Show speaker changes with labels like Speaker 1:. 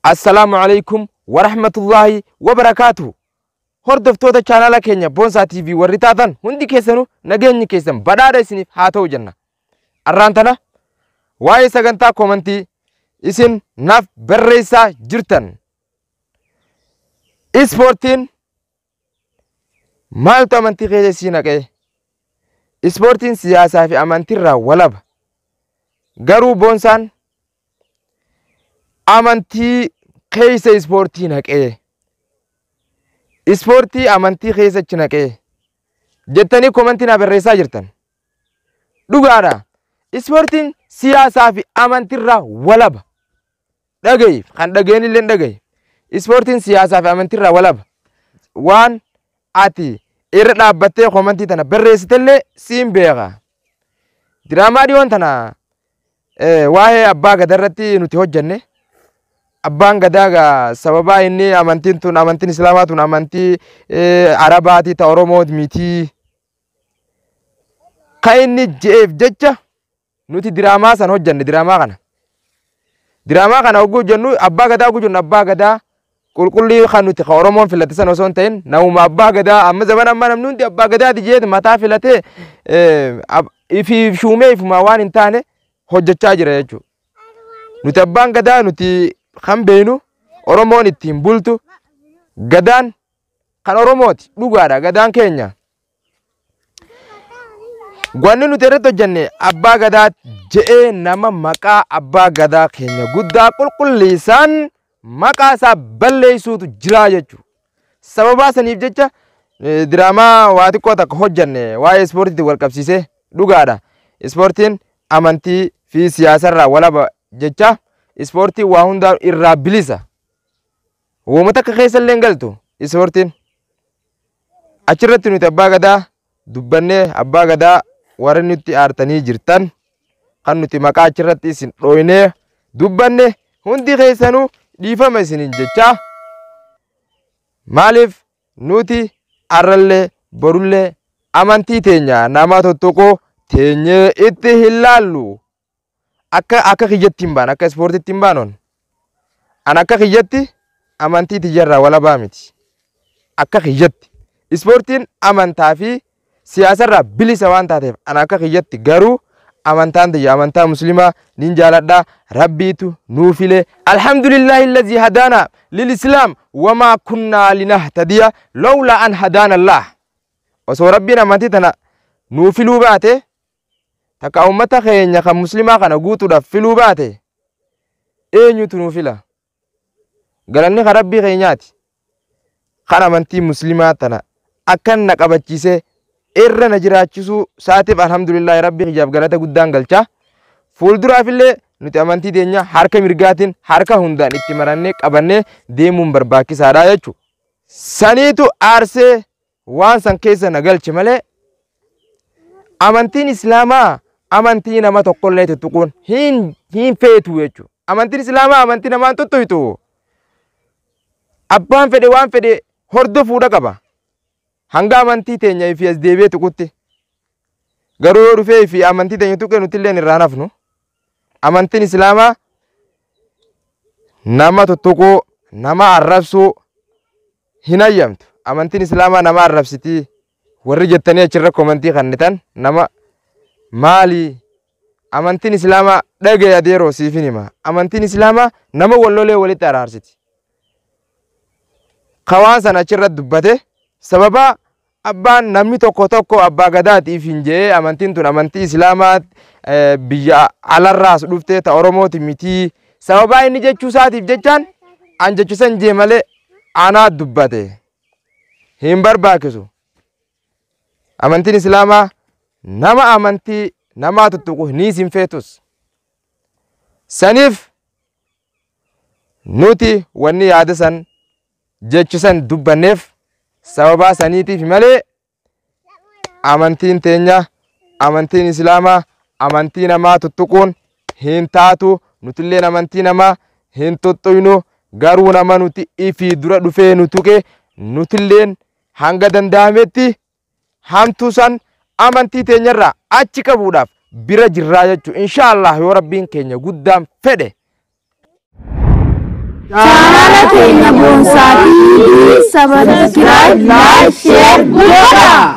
Speaker 1: Assalaamu alaikum wa rahmatullahi wa barakaatuhu. Hordoftoota chaanaala keenya Boonsaa TV warri taatan hundi keessanuu nageenyi keessan badhaadha isiniif haa ta'u jenna. Arraan tana waa'ee sagantaa koomantii isin naaf barreessaa jirtan. Ispoortiin Maaltu amantii keessa sii naqee? Ispoortiin siyaasaa fi amantiirraa walaba. Garuu boonsaan amantii keessa ispoortii naqee. Ispoortii amantii keessa achi naqee. Jettanii komantii naa barreessaa jirtan. Dhugaadha. Ispoortiin siyaasaa fi amantiirraa walaba. dhagahi kan dhagaheen illee dhagahi ispoortiin siyaasaa fi amantiirraa walaba waan ati irra dhaabbattee komantii tana barreessitellee siin beeka diraamaa dhiyoon tana eh, waa'ee abbaa gadaa irratti nuti hojjenne abbaan gadaa gaa sababaa inni amantiin tun amantiin islaamaa tun amantii eh, arabaatii ta oromoo mitii kan inni je'eef jecha Nuti diraamaa san hojjanne diraamaa kana. Diraamaa kana hogguu hojjannu abbaa gadaa hogguu jennu abbaa gadaa qulqullii kan nuti kan Oromoon filate san osoo hin ta'in namuma abbaa gadaa amma zaman amma namni hundi abbaa gadaati jeeti mataa filatee ifi shuumee ifumaa waan hin taane hojjechaa jira jechuudha. Nuti abbaan gadaa nuti kan beeknu Oromoon ittiin bultu gadaan kan Oromooti dhugaadha gadaan keenya. Wanni nuti irratti hojjenne abbaa gadaa je'ee nama maqaa abbaa gadaa keenya guddaa qulqulleessaan maqaa isaa balleessuutu jiraa jechuudha. Sababaa saniif jecha eh, diraamaa waa xiqqoo takka hojjenne waa'ee ispoortiitti wal qabsiisee dhugaadha. Ispoortiin amantii fi siyaasarraa walaba jecha ispoortiin waa hundaa irraa bilisa. Wooma takka keessa illee hin galtu ispoortiin. Achirratti nuti abbaa gadaa dubbannee abbaa gadaa warri nutti aartanii jirtan kan nuti maqaa achirratti isin dhooynee dubbanne hundi keessanuu dhiifama isiniin jechaa maaliif nuti arrallee borullee amantii teenya nama tuttuquu teenyee itti hin laallu. akka akka kiyyatti hin baan akka ispoortitti hin baanon an akka kiyyatti amantii tiyyarraa walabaa miti akka kiyyatti ispoortiin amantaa fi siyaasarraa bilisa waan taateef an akka kiyyatti garuu amantaan tiyya amantaa muslimaa nin jaaladha rabbiitu nuu file alhamdulillahi allazii hadaana lilislaam wamaa kunnaa linahtadiya lawlaa an hadaana allaah osoo rabbiin amantii tana nuu filuu baate takka ummata keenya kan muslimaa kana guutuudhaaf filuu baate eenyutu nuu fila galanni kan rabbii keenyaati kan amantii muslimaa tana akkan na qabachiisee irra na jiraachisuu saatiif alhamdulillaahi rabbii kiyyaaf galata guddaan galchaa fuulduraafillee nuti amantii teenya harka mirgaatiin harka hundaan itti marannee qabannee deemuun barbaachisaadha jechuudha. Saniitu aarsee waan san keessa na galche malee amantiin islaamaa amantii nama tokkollee tuttuquun hin hin feetu jechuudha. Amantiin islaamaa amantii namaan tuttuqxu abbaan fedhe waan fedhe hordofuudha qaba. Hanga amantii teenya fi as deebi'ee tuqutti garuu yoo dhufee fi amantii teenya tuqee nuti illee irraa nafnu amantiin islaamaa nama tuttuquu nama arrabsuu hin hayyamtu amantiin islaamaa nama arrabsitii warri jettanii achirra komantii kannitan nama maalii amantiin islaamaa dhagee adeeroo siifin hima amantiin islaamaa nama wallolee walitti araarsiti kawaan san achirra dubbate sababaa Abbaan namni tokko tokko abbaa gadaati ifin je'ee amantiin tun amantii islaamaa biyya alarraas dhuftee ta oromooti mitii sababaa inni jechuu isaatiif jechaan an jechisan jee malee anaa dubbate hin barbaachisu amantiin islaamaa nama amantii namaa tuttuqu ni isin feetus saniif nuti wanni yaada san jechu san dubbanneef sababaa saniitiif malee amantiin teenya amantiin islaamaa amantii namaa tuttuquun hin taatu nutilleen amantii namaa hin tuttuqnu garuu nama nuti ifii dura dhufee nu tuqe nutilleen hanga danda'ametti hamtuu san amantii teenyarraa achi qabuudhaaf bira jirraa jechuu insha Allah yoo rabbiin keenya guddaan fedhe
Speaker 2: Chaanala keenya boonsaa TV sabaskiraayib laayik sheer godhaa.